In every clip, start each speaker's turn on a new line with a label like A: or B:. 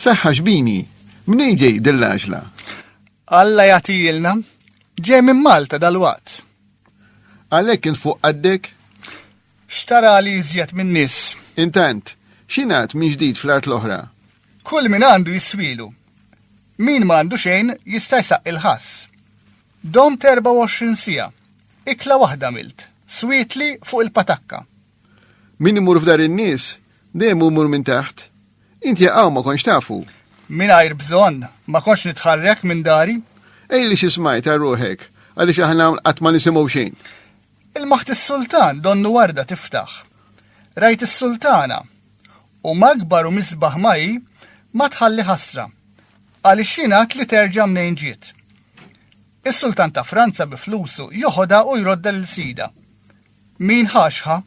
A: Saħħa xbini, minn ġej dill-għaġla? Alla jagħtilna ġej minn Malta dal-waqt. Għalhekk kien fuq qaddek? Xtara li iżjed minn nies. Intant, xinat minn ġdid fl-art l-oħra? Kull min għandu jiswielu. Min ma għandu xejn jista' jsaqqi l-ħass. Domt 24 siegħa. Ikla waħda għamilt. Swietli fuq il-patakka. Min imur f'dar in-nies dejjem imur minn taħt. Inti għaw ma konx tafu. Mingħajr bżonn ma konx nitħarrek minn dari. Ejli xi smajt għal ruħek għaliex aħna qatt ma nisimgħu xejn. Ilmaħt is-sultan donnu warda tiftaħ. Rajt is-sultana, u magbar u misbaħ ma hi, ma tħalli ħasra, għaliex jingħad li terġa' mnejn ġiet. Is-sultan ta' Franza bi flusu joħodha u jrodda lil sida. Min ħaxħa?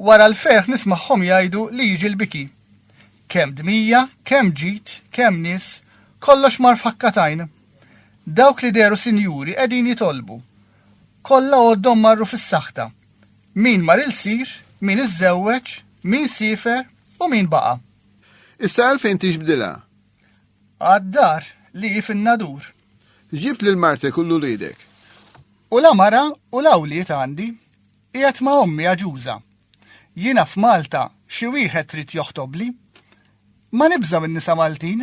A: Wara l-ferħ nismagħhom jgħidu li jiġi l-biki. Kemm dmija, kemm ġid, kemm nies, kollox mar fakkatajn. Dawk li deru sinjuri qegħdin jitolbu Kollha għoddhom marru fis-saħta. Min mar il-sir, min iżżewweġ, min siefer u min baqa'. Issa għalfejn tixbdilha? Għad-dar li hi fin-Nadur. Ġibt lil martek u l-uliedek. U la mara u la wlied għandi. Qiegħed ma' ommi aġuża. Jiena f'Malta xi wieħed trid joħtobli. Ma nibża' min-nisa Maltin.